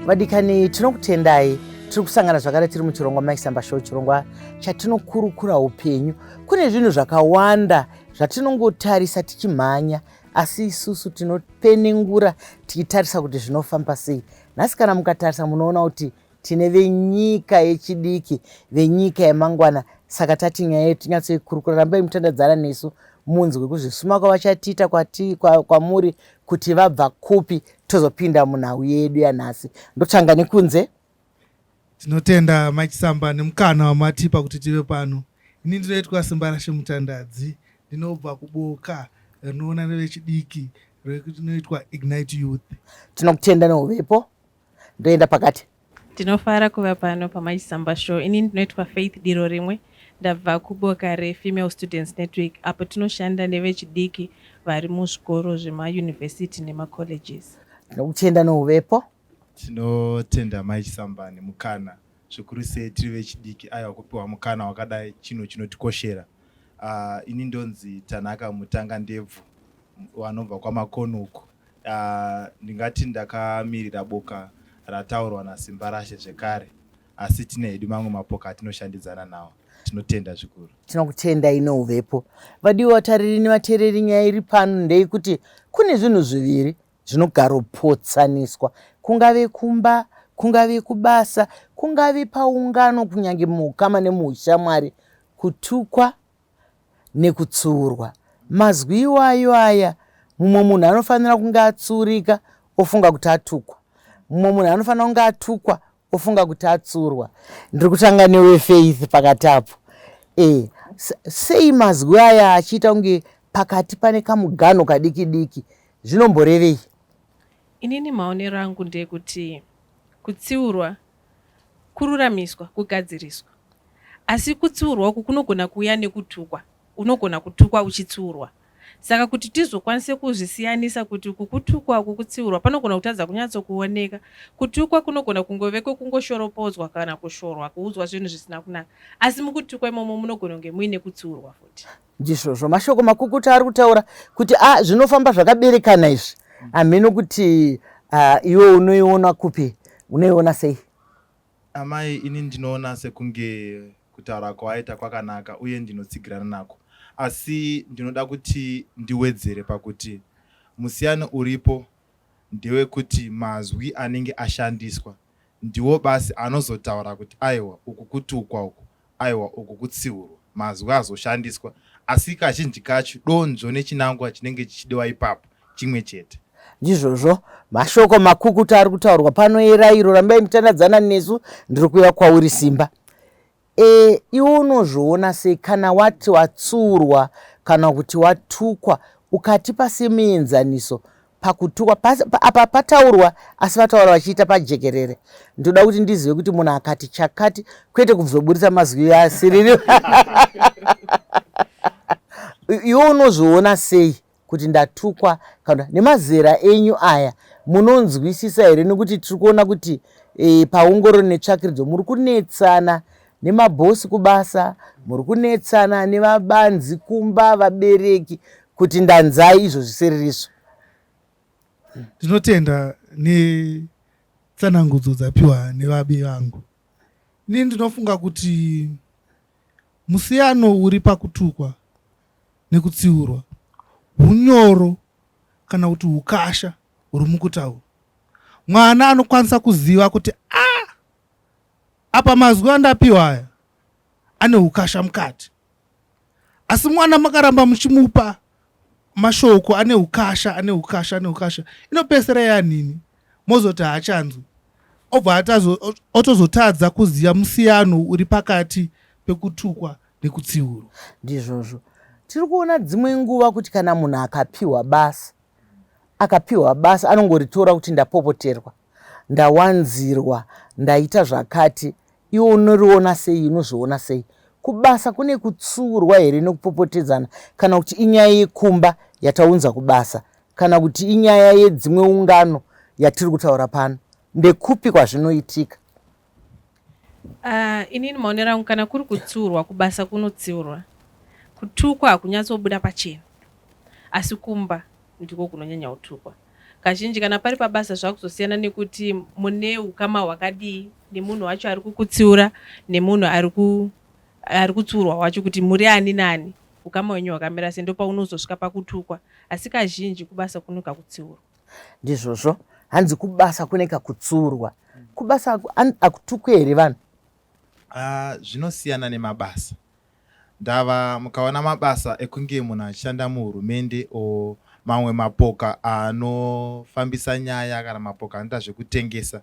vadikani tinokutendai tiri kusangana zvakare tiri muchirongwa maisamba show chirongwa chatinokurukura upenyu kune zvinhu zvakawanda zvatinongotarisa tichimhanya asi isusu tinopenengura tichitarisa kuti zvinofamba sei nhasi kana mukatarisa munoona kuti Tine venyika yechidiki, venyika yemangwana saka tati nyaya yedu tinyatsoikurukura. Rambai mutandadzana nesu munzwe kuzvisuma kwavachatiita kwati kwa, kwamuri kuti vabva kupi tozopinda munhau yedu yanhasi. Ndotanga nekunze. Tinotenda Machisamba nemukana wamatipa kuti tive pano. Ini ndinoitwa Simbarashe Mutandadzi, ndinobva kuboka rinoona nevechidiki rinoitwa Ignite Youth. Tinokutenda neuvepo ndoenda pakati. Ndinofara kuva pano paMachisamba Show. Ini ndinoitwa Faith Diro Rimwe. Ndabva kuboka reFemale Students Network apo tinoshanda nevechidiki vari muzvikoro zvemayunivhesiti nemacolleges. Ndinokutenda nouvepo. Tinotenda Mai Chisamba nemukana zvikuru sei tiri vechidiki aiwa kupiwa mukana wakadai chinhu chinotikoshera uh, ini ndonzi tanaka mutanga ndebvu vanobva kwamakoni uko uh, ndingati ndakamirira boka rataurwa nasimba rashe zvekare asi tine hedu mamwe mapoka atinoshandidzana nawo tinotenda zvikuru tinokutenda ino uvepo vadiwa vatariri nevateereri nyaya iri pano ndeikuti kune zvinhu zviviri Zvinogaropotsaniswa, kungave kumba, kungave kubasa, kungave paungano, kunyange muukama nemuushamwari, kutukwa nekutsiurwa. Mazwi iwayo aya, mumwe munhu anofanira kunge atsiurika ofunga kuti atukwa. Mumwe munhu anofanira kunge atukwa Ofunga kuti atsurwa. Ndiri kutanga newe Faith pakati apo. Eh, sei mazwi aya achiita kunge pakati pane kamuganho kadiki diki. Zvinomborevei? Inini maonero angu ndekuti kutsiurwa kururamiswa, kugadziriswa. Asi kutsiurwa uku kunogona kuuya nekutukwa unogona kutukwa uchitsiurwa. Saka kuti tizokwanise kuzvisiyanisa kuti uku kutukwa uku kutsiurwa, panogona kutadza kunyatsokuoneka. Kutukwa kunogona kungove kwekungoshoropodzwa kana kushorwa, kuudzwa zvinhu zvisina kunaka. Asi mukutukwa imomo munogona kunge muine kutsiurwa futi. Ndizvozvo mashoko makukutu ari kutaura kuti a ah, zvinofamba zvakaberekana izvi hameno kuti ah, iwe unoiona kupi unoiona sei Amai, ini ndinoona sekunge kutaura kwawaita kwakanaka uye ndinotsigirana nako asi ndinoda kuti ndiwedzere pakuti musiyano uripo ndewekuti mazwi anenge ashandiswa ndiwo basi anozotaura kuti aiwa uku kutukwa uku Aiwa, uku kutsiurwa mazwi azoshandiswa, asi kazhinji kacho donzvo nechinangwa chinenge chichidiwa ipapo chimwe chete. Ndizvozvo, mashoko makukutu ari kutaurwa pano erairo, rambai mutandadzana nesu, ndiri kuuya kwauri simba. E, iwe unozviona sei kana wati watsiurwa kana kuti watukwa ukatipa semuenzaniso pakutukwa apa pataurwa asi vataura vachiita pajekerere ndoda kuti ndizive kuti munhu akati chakati kwete kubzoburitsa mazwi asiriri iwe unozviona sei kuti ndatukwa kana nemazera enyu aya munonzwisisa here nekuti tiri kuona kuti e, paongororo netsvakiridzo muri kunetsana Nemaboss kubasa muri kunetsana nevabanzi kumba vabereki kuti ndanzai izvo zviseririso. Ndinotenda netsanangudzo dzapiwa nevabi vangu. Ini ndinofunga kuti musiyano uri pakutukwa nekutsiurwa hunyoro kana kuti ukasha huri mukutaura. Mwana anokwanisa kuziva kuti a ah, Apa mazwi andapiwa aya ane hukasha mukati. Asi mwana makaramba muchimupa mashoko ane hukasha ane hukasha ane hukasha inopesera yanini mozoti haachanzwi obva otozotadza kuziva musiyano uri pakati pekutukwa nekutsiurwa ndizvozvo tiri kuona dzimwe nguva kuti kana munhu akapiwa basa akapiwa basa anongoritora kuti ndapopoterwa Ndawanzirwa, ndaita zvakati, iwe unoriona sei, unozviona sei? Kubasa kune kutsiurwa here nekupopotedzana kana kuti inyaya yekumba yataunza kubasa kana kuti inyaya yedzimwe ungano yatiri kutaura pano? Ndekupi kwazvinoitika? Uh, inini maonero angu kana kuri kutsiurwa kubasa kunotsiurwa kutukwa hakunyatsobuda pachena asi kumba ndiko kunonyanya kutukwa kazhinji kana pari pabasa zvakuzosiyana nekuti mune ukama hwakadii nemunhu wacho ari kukutsiura nemunhu ari kutsiurwa wacho kuti muri ani nani ukama wenyu hwakamira sei ndopaunozosvika pakutukwa asi kazhinji kubasa kunoka kutsiurwa Ndizvozvo hanzi kubasa kune kakutsurwa. Kubasa aku, an, akutukwe here vanhu? Ah, zvinosiyana nemabasa. Ndava mukaona mabasa ekunge munhu achishanda muhurumende o mamwe mapoka anofambisa nyaya kana mapoka anoita zvekutengesa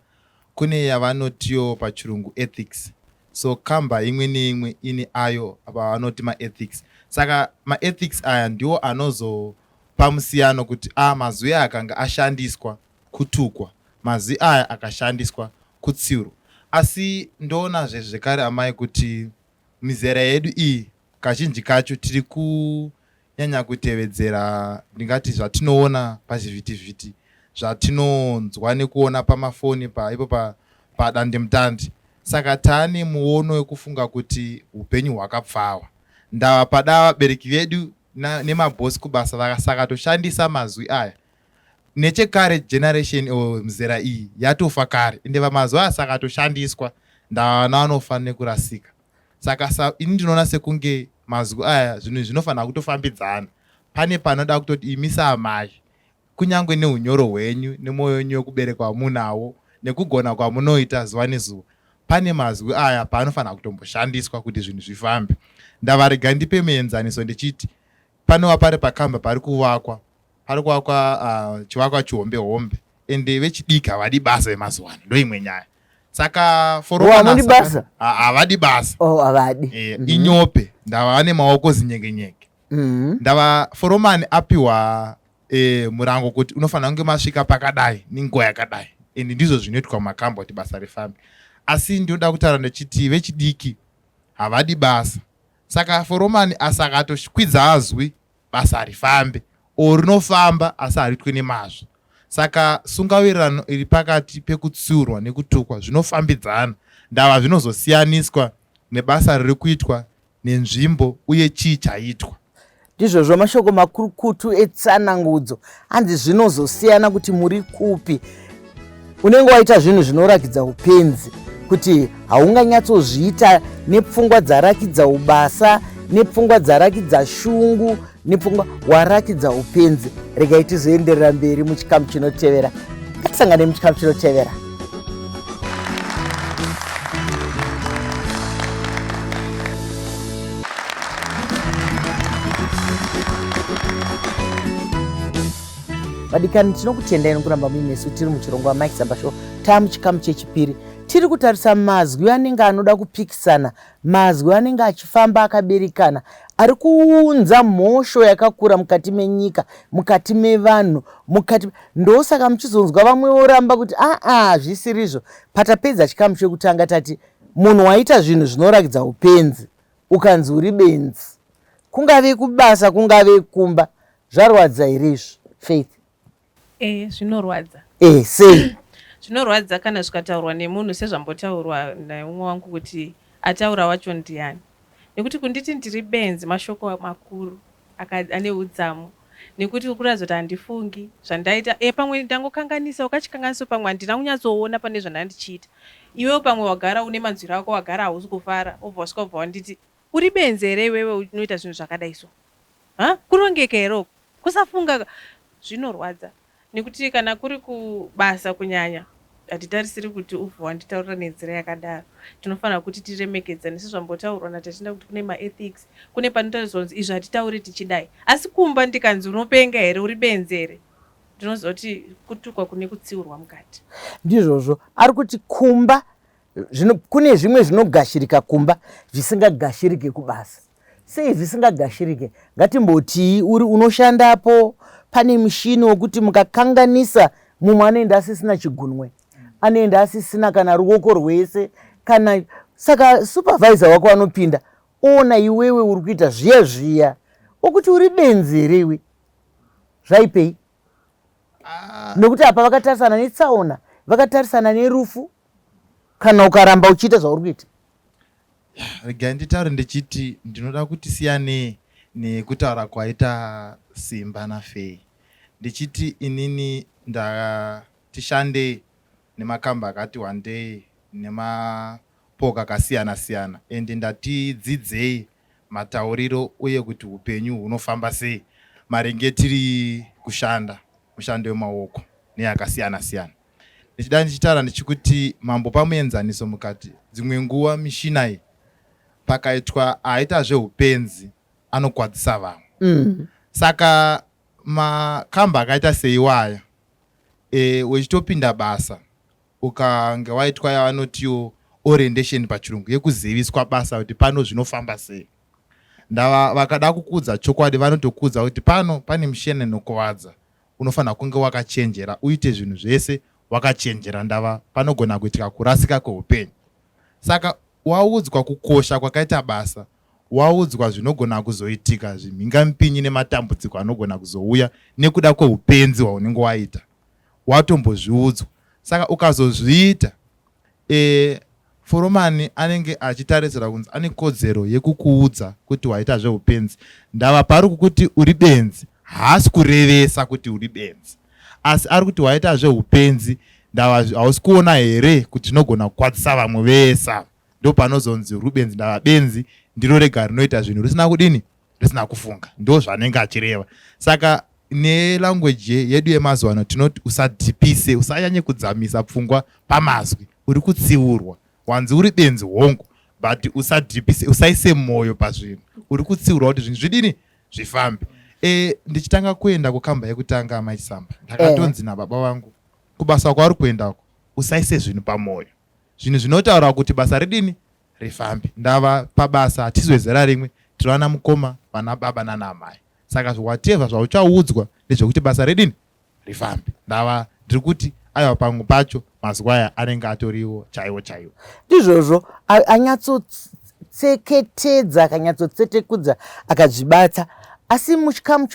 kune yavanotiwo pachirungu ethics so kamba imwe neimwe ine ayo apa vanoti maethics saka maethics aya ndiwo anozo pamusiyano kuti a mazwi aya akanga ashandiswa kutukwa mazwi aya akashandiswa kutsiurwa asi ndoonazve zvekare amai kuti mizera yedu iyi kazhinji kacho tiri kunyanya kutevedzera ndingati zvatinoona pazvivhitivhiti zvatinonzwa nekuona pamafoni paipo pa, padandemutande pa saka taane muono wekufunga kuti upenyu hwakapfawa ndava pada vabereki vedu nemaboss kubasa vakasaka toshandisa mazwi aya nechekare generation or mzera iyi yatofa kare ende vamazuva aya saka toshandiswa ndavana vanofa nekurasika saka sa ini ndinoona sekunge mazwi aya zvinhu zvinofanira kutofambidzana pane panoda kutoti imisa amai Kunyangwe neunyoro hwenyu nemwoyo wenyu wekuberekwa wamunawo nekugona kwamunoita zuva nezuva, pane mazwi aya paanofanira kutomboshandiswa kuti zvinhu zvifambe. Ndavarega ndipe muenzaniso ndichiti panova pari pakamba pari kuvakwa, pari kuvakwa uh, chivakwa chihombe hombe ende vechidiki havadi basa vemazuva ano, ndoimwe nyaya saka foroavadi basa havadi basa oh, havadi eh, mhm. inyope ndava nemaoko zinyengenyenge mhm. ndava foromani apiwa eh, murango kuti unofanira kunge masvika pakadai nenguva yakadai and ndizvo zvinoitwa mumakamba kuti basa rifambe asi ndinoda kutaura ndechiti vechidiki havadi basa saka foromani asi akatokwidza azwi basa harifambe o rinofamba asi hariitwe nemazvo saka sungawirirano iri pakati pekutsiurwa nekutukwa zvinofambidzana ndava zvinozosiyaniswa nebasa riri kuitwa nenzvimbo uye chii chaitwa. Ndizvozvo mashoko makurukutu etsanangudzo hanzi zvinozosiyana kuti muri kupi. Unenge waita zvinhu zvinorakidza upenzi kuti haunganyatsozviita nepfungwa dzarakidza ubasa nepfungwa dzarakidza shungu nepfungwa waratidza upenzi regai tizoenderera mberi muchikamu chinotevera ngatisangane muchikamu chinotevera vadikani tinokutendai nokuramba muinesu tiri muchirongwa mike zambasho taa muchikamu chechipiri tiri kutarisa mazwi anenge anoda kupikisana Mazwi anenge achifamba akaberekana ari kuunza mhosho yakakura mukati menyika, mukati mevanhu, mukati ndosaka muchizonzwa vamwe voramba kuti aa ah, ah, zvisirizvo. Patapedza chikamu chekutanga tati munhu waita zvinhu zvinorakidza upenzi ukanzi uri benzi, kungave kubasa kungave kumba, zvarwadza here izvo Faith? Eh zvinorwadza. Eh sei? Zvinorwadza kana zvikataurwa nemunhu sezvambotaurwa naumwe wangu kuti ataura wacho ndiani. Nekuti kunditi ndiri benzi mashoko makuru ane udzamu nekuti ukuratidza kuti handifungi zvandaita e pamwe ndangokanganisa wakachikanganiso pamwe handina kunyatsoona pane zvandandichiita iwewo pamwe wagara une manzwiro ako wagara hausi kufara obva wasvika kubva wanditi Uri benzi here iwewe unoita zvinhu zvakadai so huh? Kurongeka here uku kusafunga zvinorwadza nekuti kana kuri kubasa kunyanya hatitarisiri kuti ubve wanditaurira nenzira yakadaro tinofanira kuti tiremekedzane sezvambotaurwa natatenda kuti kune maethics kune panotariswa kunzi izvi hatitauri tichidai asi kumba ndikanzi unopenga here uri benzi here ndinozoti kutukwa kune kutsiurwa mukati ndizvozvo ari kuti kumba zvino kune zvimwe zvinogashirika kumba zvisingagashirike kubasa sei zvisingagashirike ngatimbotii uri unoshandapo pane mushini wokuti mukakanganisa mumwe anoenda asisina chigunwe anoenda asisina kana ruoko rwese kana saka supervisor wako anopinda oona iwewe uri kuita zviya zviya okuti uri benzi here iwe zvaipei ah. nokuti apa vakatarisana netsaona vakatarisana nerufu kana ukaramba uchiita zvauri kuita regai nditaure ndichiti ndinoda kuti siyanei nekutaura kwaita simba nafei ndichiti inini ndatishande nemakamba akati wandei nemapoka akasiyana siyana and ndatidzidzei matauriro uye kuti upenyu hunofamba sei maringe tiri kushanda mushando wemaoko neyakasiyana siyana ndichida ndichitaura ndichikuti mambo pamuenzaniso mukati dzimwe nguva mishina iyi pakaitwa aita zveupenzi anokwadzisa vamwe mm. saka makamba akaita seiwaya e, wechitopinda basa ukange waitwa yavanotiwo orientation pachirungu yekuziviswa basa kuti pano zvinofamba sei ndava vakada kukudza chokwadi vanotokudza kuti pano pane mishene inokuvadza unofanira kunge wakachenjera uite zvinhu zvese wakachenjera ndava panogona kuitika kurasika kweupenyu saka waudzwa kukosha kwakaita basa waudzwa zvinogona kuzoitika zvimhingamipinyi nematambudziko anogona kuzouya nekuda kweupenzi hwaunenge waita watombozviudzwa saka ukazozviita Eeh Foromani anenge achitarisira kunzi ane kodzero yekukuudza kuti waita zvehupenzi. Ndava paari kukuti uri benzi haasi kurevesa kuti uri benzi asi ari kuti waita zvehupenzi ndava hausi kuona here kuti zvinogona kukwadzisa vamwe vese ava. Ndopanozonzi uri benzi ndava benzi ndiro rega rinoita zvinhu risina kudini? risina kufunga ndo zvanenge achireva saka nelanguage yedu yemazuva ano tinoti usadhipise usanyanye kudzamisa pfungwa pamazwi uri kutsiurwa wanzi uri benzi hongu but usadhipise usaise mwoyo pazvinhu uri kutsiurwa kuti zvinhu zvidini zvifambe e, ndichitanga kuenda kukamba yekutanga amachisamba ndakatonzi eh. nababa vangu kubasa kwauri kuendako usaise zvinhu pamwoyo zvinhu zvinotaura kuti basa ridini rifambi ndava pabasa hatizwe zera rimwe tiri vana mukoma vana baba nana amai saka zviwateva zvauchaudzwa ndezvekuti basa redini rifambi ndava ndiri kuti aiwa pangu pacho mazuva aya anenge atoriwo chaiwo chaiwo ndizvozvo anyatsotseketedza akanyatsotsetekudza akazvibata asi muchikamu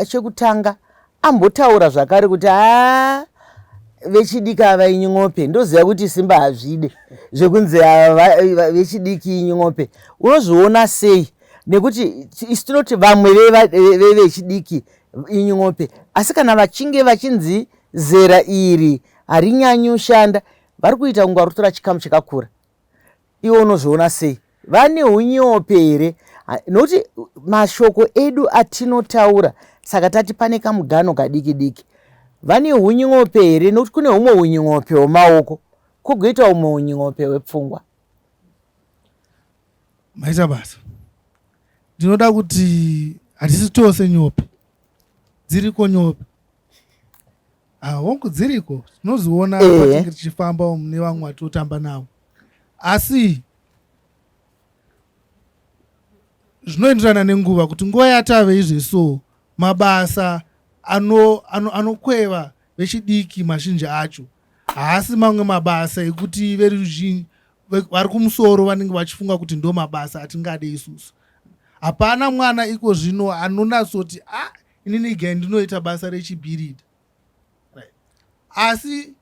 chekutanga Ambotaura zvakare kuti haa vechidiki ava inyin'ope ndoziva kuti simba hazvide zvekunzi vechidiki inyin'ope unozviona sei nekuti isu tinoti vamwe vevechidiki inyin'ope asi kana vachinge vachinzi zera iri harinyanyi ushanda vari kuita kunge vari kutora chikamu chakakura iwe unozviona sei vane unyope here nokuti mashoko edu atinotaura saka tati pane kamugano kadiki diki vane unyope here nokuti kune umwe unyope wemaoko kugoita umwe unyope wepfungwa maita basa ndinoda kuti hatisi tose nyope dziriko nyope Ah, hongu dziriko tinoziona Ehe. patinenge tichifamba umu nevamwe vatinotamba navo asi zvinoenderana nenguva kuti nguva yatave izve so mabasa ano- ano- anokweva vechidiki mazhinji acho haasi mamwe mabasa ekuti veruzhinji ve- vari kumusoro vanenge vachifunga kuti ndo mabasa atingade isusu hapana mwana iko zvino anonatsoti a inini ga ndinoita basa rechibhirida right. asi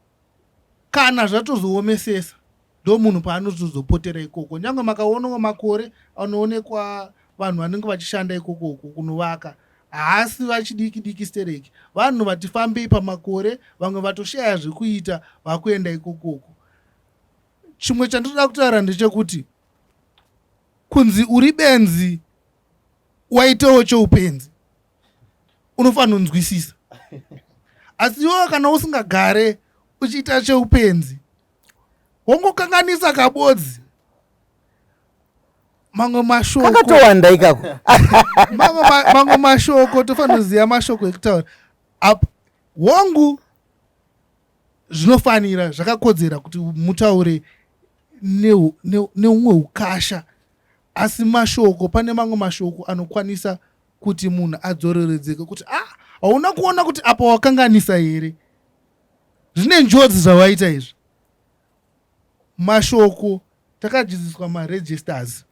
kana zvatozoomesesa ndo munhu paanozozopotera ikoko nyange makaonawo makore anoonekwa vanhu vanenge vachishanda ikoko uku kunovaka haasi vachidiki diki stereki vanhu vati fambei pamakore vamwe vatoshaya zvekuita vakuenda ikokoko chimwe chandinoda kutaura ndechekuti kunzi uri benzi waitawo choupenzi unofanira kunzwisisa asi iwewo kana usingagare uchiita cheupenzi wongokanganisa kabodzi mamwe mashokokakatowanda ikako mamwe mashoko tofanira kuziva mashoko ekutaura apo hongu zvinofanira zvakakodzera kuti mutaure neumwe ukasha Asi mashoko, pane mamwe mashoko anokwanisa kuti munhu adzoreredzeke kuti ah, hauna kuona kuti apa wakanganisa here? Zvine njodzi zvawaita izvi. Mashoko takadzidziswa maregisters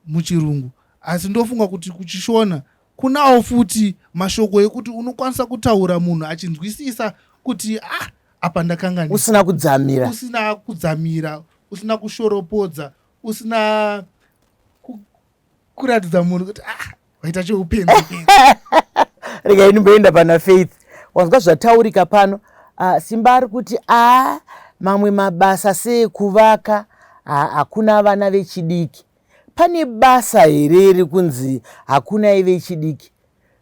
muchirungu asi ndofunga kuti kuchishona kunawo futi mashoko ekuti unokwanisa kutaura munhu achinzwisisa kuti ah, apa ndakanganisa. Usina kudzamira. Usina kudzamira, usina kushoropodza, usina kuratidza munhu kuti ah, vaita cheupenzi rega ini mboenda pana faith wanzwa zvataurika pano ah, simba ari kuti a mamwe mabasa seekuvaka hakuna vana vechidiki pane basa here iri kunzi hakuna ive chidiki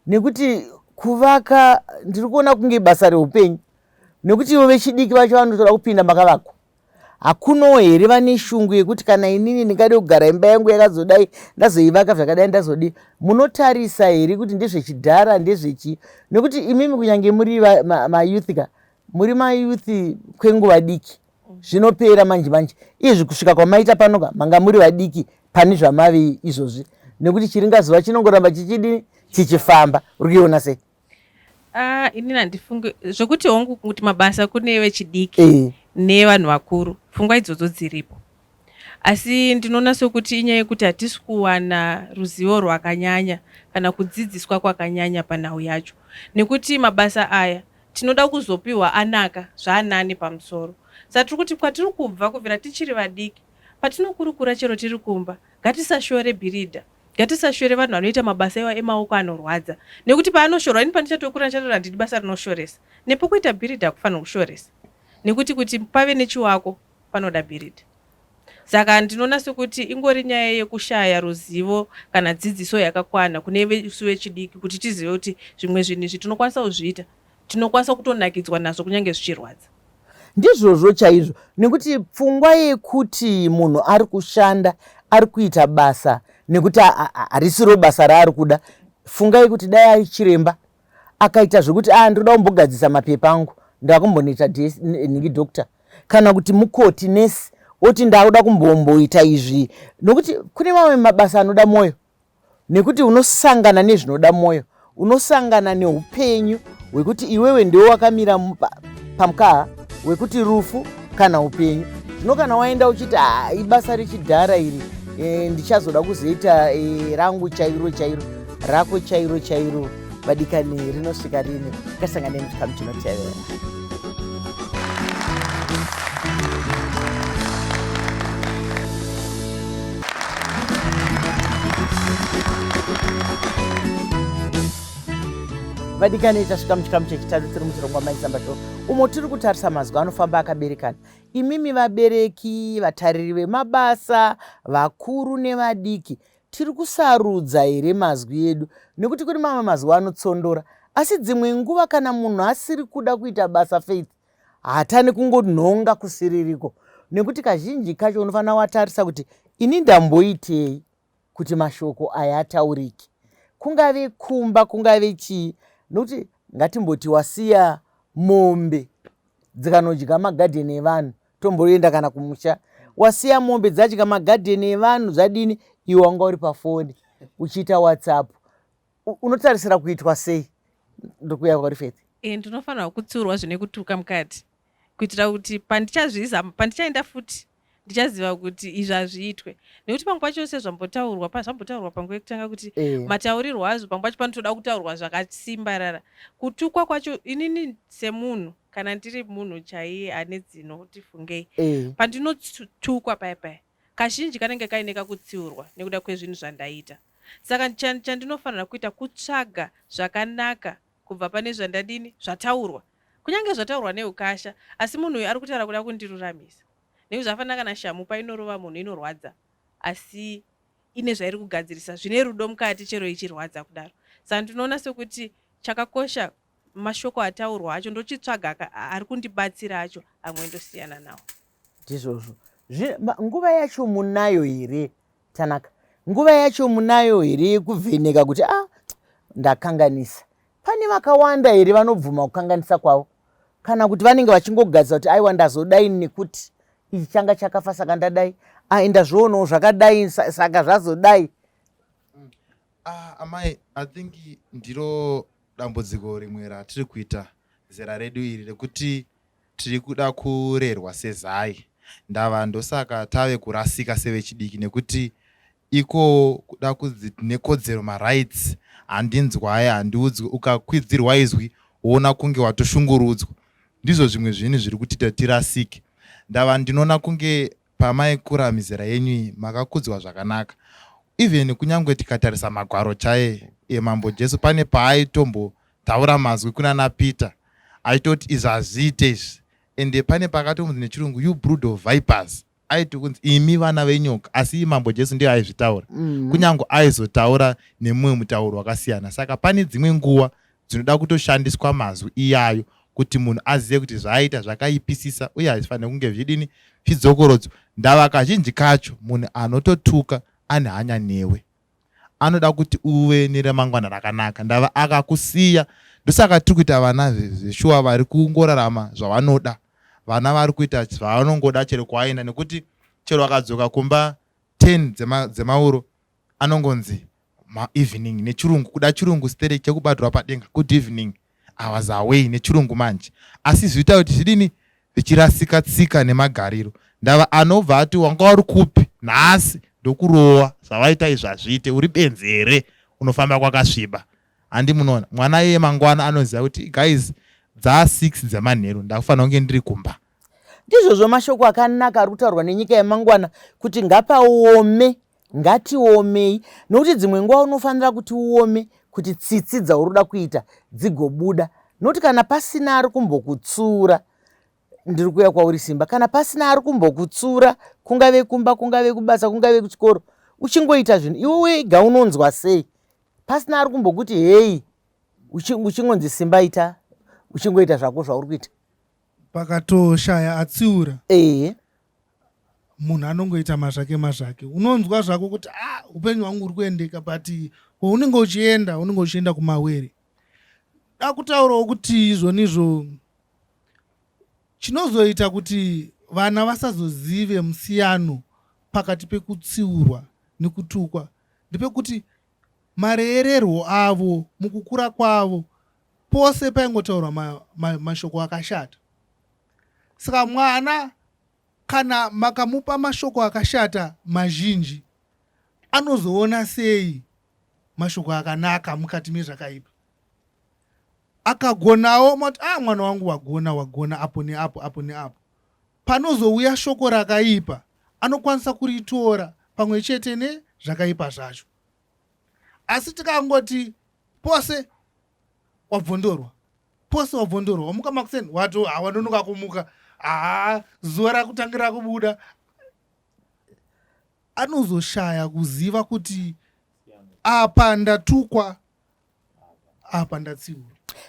nekuti kuvaka ndiri kuona kunge basa reupenyu nekuti ivo vechidiki vacho vanotoda kupinda makavakwa hakunowo here vane shungu yekuti kana inini ndingade kugara imba yangu yakazodai ndazoivaka zvakadai ndazodii munotarisa here kuti ndezvechidhara ndezvechii nekuti imimi kunyange muri mayouth ka muri mayouth kwenguva diki zvinopera manje manje izvi kusvika kwamaita pano ka manga muri vadiki pane zvamave izvozvi nekuti chiringazuva chinongoramba chichidii chichifamba uri kuiona sei Ah, ini handifunge zvekuti hongu kuti mabasa kune vechidiki Eh. nevanhu vakuru pfungwa idzodzo dziripo asi ndinoona sokuti inyaya yekuti hatisi kuwana ruzivo rwakanyanya kana kudzidziswa kwakanyanya panhau yacho nekuti mabasa aya tinoda kuzopiwa anaka zvaanani pamusoro satiri kuti kwatiri kubva kubvira tichiri vadiki Patinokurukura chero tiri kumba, ngatisashore bhiridha. Ngatisashore vanhu vanoita mabasa iwa emaoko anorwadza nekuti paanoshorwa ini pandichatokurira ndichatoona ndidi basa rinoshoresa. Nepo kuita bhiridha hakufanirwi kushoresa nekuti kuti pave nechiwako panoda bhiridha. Saka ndinoona sekuti ingori nyaya yekushaya ruzivo kana dzidziso yakakwana kune isu vechidiki kuti tizive kuti zvimwe zvinhu izvi tinokwanisa kuzviita tinokwanisa kutonakidzwa nazvo kunyange zvichirwadza ndizvozvo chaizvo nekuti pfungwa yekuti munhu ari kushanda ari kuita basa nekuti harisiro basa raari kuda fungai kuti dai ari chiremba akaita zvekuti a ah, ndinoda kumbogadzisa mapepa angu ndakumbonoita nhingi doctor kana kuti mukoti nesi oti ndakuda kumbomboita izvi nokuti kune mamwe mabasa anoda mwoyo nekuti unosangana nezvinoda mwoyo unosangana neupenyu hwekuti iwewe ndiwe wakamira pamukaha wekuti rufu kana upenyu zvino kana waenda uchiti ha ibasa rechidhara iri e, ndichazoda kuzoita e, rangu chairo chairo rako chairo chairo vadikani rinosvika rini ngasanganeni chikamu chinotevera vadikani tasvika muchikamu chechitatu tiri muchirongwa maizambato umo tiri kutarisa mazwi anofamba akaberekana imimi vabereki vatariri vemabasa vakuru nevadiki Tiri kusarudza here mazwi edu nekuti kune mamwe mazwi anotsondora asi dzimwe nguva kana munhu asiri kuda kuita basa Faith haatani kungonhonga kusiririko nekuti kazhinji kacho unofanira watarisa kuti ini ndamboitei kuti mashoko aya ataurike kungave kumba kungave chii nokuti ngatimboti wasiya mombe dzikanodya magadheni evanhu Tomboenda kana kumusha wasiya mombe dzadya magadheni evanhu zvadini iwe wanga uri pafoni uchiita whatsapp unotarisira kuitwa sei ndokuya kwauri faith eh, ndinofanirwa kutsiurwa zvine kutuka mukati kuitira kuti pandichazviza pandichaenda futi ndichaziva kuti izvi hazviitwe nekuti pamwe pacho sezvambotaurwa zvambotaurwa panguva yekutanga kuti eh. mataurirwo azvo pamwe pacho panotoda kutaurwa zvakasimbarara kutukwa kwacho inini semunhu kana ndiri munhu chaiye ane dzino kuti fungei eh. pandinotukwa paya paya kazhinji kanenge kaine kakutsiurwa nekuda kwezvinhu zvandaita saka chandinofanira kuita kutsvaga zvakanaka kubva pane zvandadini zvataurwa kunyange zvataurwa neukasha asi munhu uyu ari kutaura kuda kundiruramisa nekuti zvafanira kana shamu painorova munhu inorwadza asi ine zvairi kugadzirisa zvine rudo mukati chero ichirwadza kudaro saka ndinoona sekuti chakakosha mashoko ataurwa acho ndochitsvaga ari kundibatsira acho amwe ndosiyana nawo ndizvozvo nguva yacho munayo here tanaka nguva yacho munayo here yekuvheneka kuti a ah, ndakanganisa pane vakawanda here vanobvuma kukanganisa kwavo kana kuti vanenge vachingogadzisa kuti aiwa ndazodai nekuti ichi changa chakafa saka ndadai ai ndazvionawo zvakadai saka zvazodai mm. ah, amai i think ndiro dambudziko rimwe ratiri kuita zera redu iri rekuti tiri kuda kurerwa sezai ndava ndosaka tave kurasika sevechidiki nekuti iko kuda kunzi tine kodzero marights handinzwaye handiudzwe ukakwidzirwa izwi woona kunge watoshungurudzwa ndizvo zvimwe zvinhu zviri kutita tirasike ndava ndinoona kunge pamaikura mizera yenyu iyi makakudzwa zvakanaka even kunyangwe tikatarisa magwaro chaye emambo Jesu pane paayitombotaura mazwi kunana Peter aitoti izvi hazviite izvi ende pane pakatonzi nechirungu you brood of vipers aiti kunzi imi vana venyoka asi iyi mambo Jesu ndiyo aizvitaura mm. kunyange aizotaura nemumwe mutauro wakasiyana saka pane dzimwe nguva dzinoda kutoshandiswa mazwi iyayo kuti munhu azive kuti zvaaita zvakaipisisa uye hazvifanire kunge zvichidini zvidzokorodzo ndava kazhinji kacho munhu anototuka ane hanya newe anoda kuti uve neremangwana rakanaka ndava akakusiya ndosaka tiri kuita vana zveshuwa vari kungorarama zvavanoda vana vari kuita zvavanongoda chero kwaenda nekuti chero akadzoka kumba 10 dzemauro dzema anongonzi maevening nechirungu kuda chirungu sterek chekubatirwa padenga good evening awas away nechirungu manje asi zviita kuti zvidini zvichirasika tsika nemagariro ndava anobva ati wanga wari kupi nhasi ndokurowa zvavaita izvi hazviite uri benzi here unofamba kwakasviba handi munoona mwana iye mangwana anoziva kuti guys dzaa six dzemanheru ndakufanira kunge ndiri kumba ndizvozvo mashoko akanaka ari kutaurwa nenyika yemangwana kuti ngapaome Ngatiomei nokuti dzimwe nguva unofanira kuti uome kuti tsitsi dzauri kuda kuita dzigobuda nokuti kana pasina ari kumbokutsura ndiri kuuya kwauri simba kana pasina ari kumbokutsura kungave kumba kungave kubasa kungave kuchikoro uchingoita zvinhu iwe wega unonzwa sei pasina ari kumbokuti heyi uchingonzi simba ita uchingoita zvako zvauri kuita pakatoshaya atsiura ehe munhu anongoita mazvake mazvake unonzwa zvako kuti ah upenyu hwangu uri kuendeka but kwaunenge uchienda unenge uchienda kumawere dakutaurawo kuti izvoni izvo chinozoita kuti vana vasazozive musiyano pakati pekutsiurwa nekutukwa ndepekuti mareererwo avo mukukura kwavo pose paingotaurwa mashoko ma, ma akashata saka mwana kana makamupa mashoko akashata mazhinji anozoona sei mashoko akanaka mukati mezvakaipa akagonawo mati a ah, mwana wangu wagona wagona apo neapo apo neapo panozouya shoko rakaipa anokwanisa kuritora pamwe chete nezvakaipa zvacho asi tikangoti pose wabvondorwa pose wabvondorwa wamuka makuseni wato hawanonoka kumuka haa zuva rakutangira kubuda anozoshaya kuziva kuti apa ndatukwa apa ndatsiura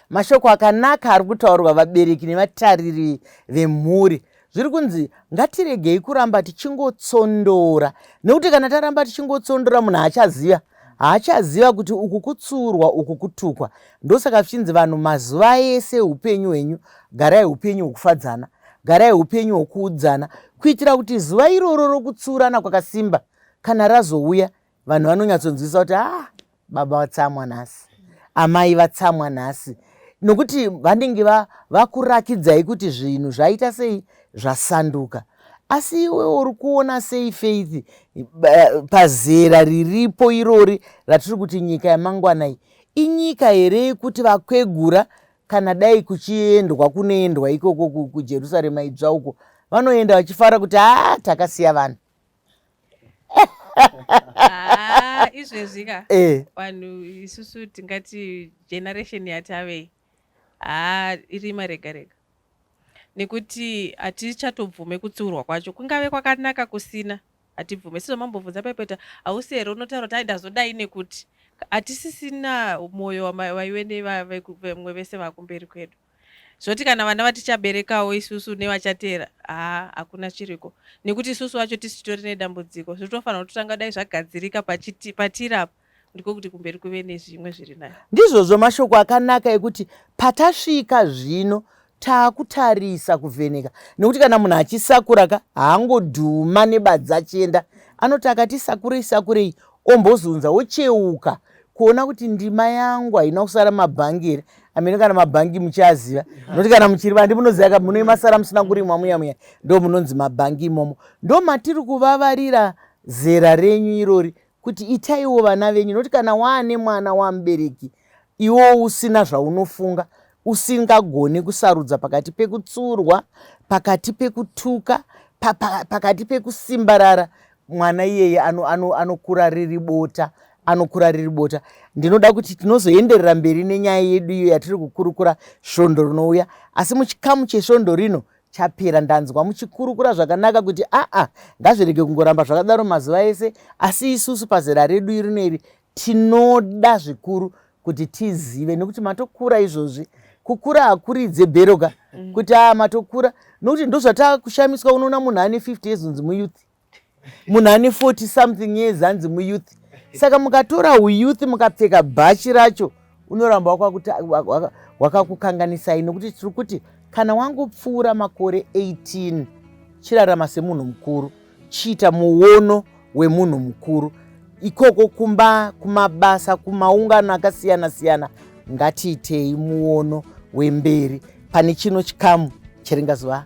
mashoko akanaka ari kutaurwa vabereki nevatariri vemhuri Zviri kunzi ngatiregei kuramba tichingotsondora nekuti kana taramba tichingotsondora munhu haachaziva haachaziva kuti uku kutsuurwa uku kutukwa ndosaka zvichinzi vanhu mazuva ese upenyu hwenyu garai upenyu hwokufadzana garai upenyu hwokuudzana kuitira kuti zuva iroro rokutsuurana kwakasimba kana razouya vanhu vanonyatsonzwisa kuti a ah, baba vatsamwa nhasi amai vatsamwa nhasi nokuti vanenge vakurakidzai kuti zvinhu zvaita sei zvasanduka asi iwe uri kuona sei faith pazera riripo irori ratiri kuti nyika yamangwana iyi inyika here yekuti vakwegura kana dai kuchiendwa kunoendwa ikoko kujerusarema idzva uko vanoenda vachifara kuti haa takasiya vanhu Ah, izvezvi ka eh vanhu isusu tingati generation yatavei haa irima rega rega nekuti hatichatobvume kutsiurwa kwacho kungave kwakanaka kusina hatibvume sizo mambobvunza pepeta hausi here unotaura kuti aindazodai nekuti hatisisina mwoyo wama- waive nevamwe vese vakumberi kwedu zvoti kana vana vatichaberekawo isusu nevachateera haa hakuna chiriko nekuti isusu vacho tisi titori nedambudziko zvitofanira kutotanga dai zvagadzirika patiri apa ndiko kuti kumberi kuve nezvimwe zviri nayo ndizvozvo mashoko akanaka ekuti patasvika zvino taakutarisa kuvheneka nekuti kana munhu achisakura ka haangodhuma nebadzi achienda anoti akati sakurei sakurei ombozunza ocheuka kuona kuti ndima yangu haina kusara mabhangi here amene kana mabhangi muchiaziva nokuti kana muchiri vandi munoziva ka muno imasara musina kurimwa muya muya ndo munonzi mabhangi imomo ndo matiri kuvavarira zera renyu irori kuti itaiwo vana venyu nokuti kana waane mwana wamubereki iwo usina zvaunofunga usingagoni kusarudza pakati pekutsurwa pakati pekutuka pakati pekusimbarara mwana iyeye anokura ano, ano riri bota anokura riri bota ndinoda kuti tinozoenderera mberi nenyaya yedu iyo yatiri kukurukura svondo rinouya asi muchikamu chesvondo rino chapera ndanzwa muchikurukura zvakanaka kuti aa ngazvirege kungoramba zvakadaro mazuva ese asi isusu pazera redu irino iri Tinoda zvikuru kuti tizive nekuti matokura izvozvi kukura hakuridze bhero ka mm. kuti aa ah, matokura nokuti ndozvatakushamiswa unoona munhu ane 50 years unzi muyouth munhu ane 40 something years anzi muyouth saka mukatora uyouth mukapfeka bhachi racho unoramba wakakukanganisai nokuti tiri kuti kana wangopfuura makore 18 chirarama semunhu mukuru chiita muono wemunhu mukuru ikoko kumba kumabasa kumaungano akasiyana siyana ngatiitei muono wemberi pane chino chikamu chiringazova